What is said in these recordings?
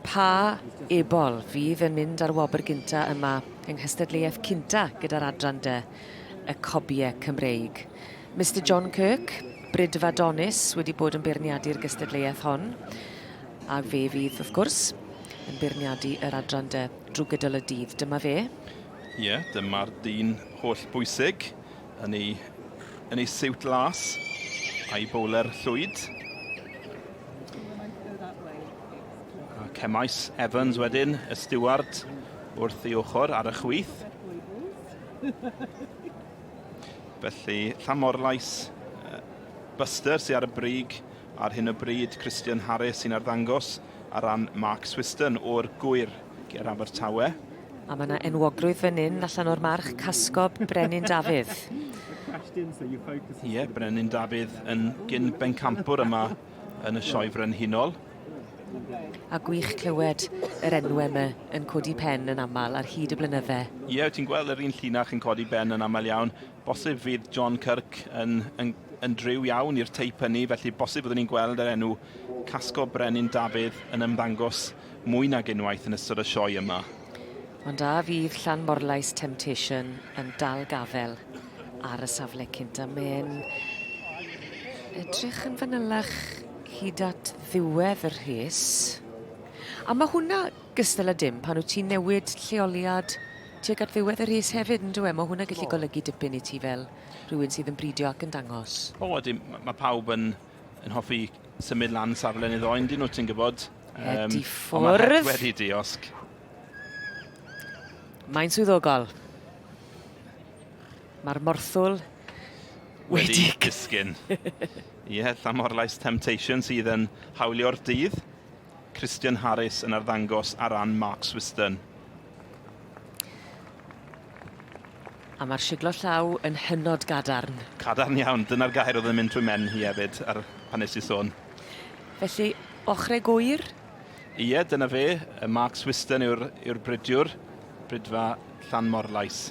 Pa ebol fydd yn mynd â'r wobr gynta yma yng nghystadleuaeth cynta gyda'r adran de, y Cobie Cymreig? Mister John Kirk, Brydfa Donis, wedi bod yn beirniadu'r gystadleuaeth hon, a fe fydd, wrth gwrs, yn beirniadu yr adran de drwy gydol y dydd. Dyma fe. Ie, dyma'r dyn holl bwysig yn ei, yn ei siwt las a'i bowler llwyd. Cemais Evans wedyn, y stiward, wrth ei ochr ar y chwith. Felly, Llamorlais, Buster sy'n ar y brig ar hyn o bryd, Christian Harris sy'n arddangos ar ran Mark Swiston o'r gwyr ger Abertawe. A mae yna enwogrwydd fan hyn allan o'r march casgob Brenin Dafydd. Ie, yeah, Brenin Dafydd yn gyn bencampwr yma yn y Sioe Frenhinol. A gwych clywed yr enw yma yn codi pen yn aml ar hyd y blynydde. Ie, yeah, ti'n gweld yr un llinach yn codi ben yn aml iawn. Bosib fydd John Kirk yn, yn, yn driw iawn i'r teip hynny, felly bosib byddwn ni'n gweld yr enw Casgo Brenin Dafydd yn ymddangos mwy nag unwaith yn ystod y sioe yma. Ond a fydd Llan Morlais Temptation yn dal gafel? ar y safle cynt a mae'n edrych yn fanylach hyd at ddiwedd y rhes. A mae hwnna gystal â dim pan wyt ti'n newid lleoliad tuag at ddiwedd y rhes hefyd, yn dweud? Mae hwnna gallu oh. golygu dipyn i ti fel rhywun sydd yn bridio ac yn dangos. O, oh, mae pawb yn, yn hoffi symud lan safle neu ddoen, dyn nhw ti'n gwybod. Um, Edi ffwrdd. Ond mae wedi diosg. Mae'n swyddogol. Mae'r morthwl wedi... Wedi disgyn. Ie, yeah, Llamorlais Temptation sydd yn hawlio'r dydd. Christian Harris yn arddangos ar ran Mark Swiston. A mae'r siglo llaw yn hynod gadarn. Cadarn iawn, dyna'r gair oedd yn mynd trwy men hi hefyd ar pan nes i sôn. Felly, ochrau gwyr, Ie, dyna fe, y Mark Swiston yw'r yw bridiwr, bridfa Llan Morlais.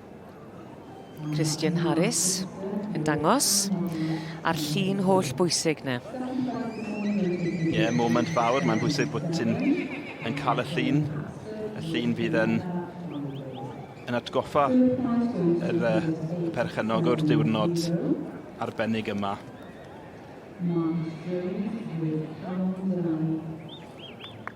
Christian Harris yn dangos a'r llun holl bwysig na. Ie, yeah, moment fawr. Mae'n bwysig bod ti'n yn cael y llun. Y llun fydd yn, yn atgoffa yr, uh, y perchennog o'r diwrnod arbennig yma. Mark Jones with Carol Milan.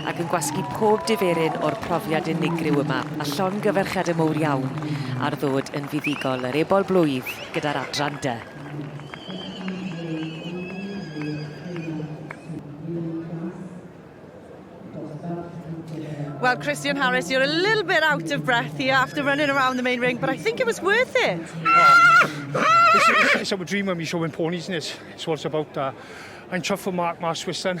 ac yn gwasgu pob diferyn o'r profiad unigryw yma, a llongyfarchiadau mowr iawn ar ddod yn fuddugol yr Ebol Blwydd gyda'r adran dy. Well, Christian Harris, you're a little bit out of breath here after running around the main ring, but I think it was worth it. it's, it's, it's our dream when we show in ponies, and it's, it's what it's about. Uh, I'm chuffed for Mark Marswison.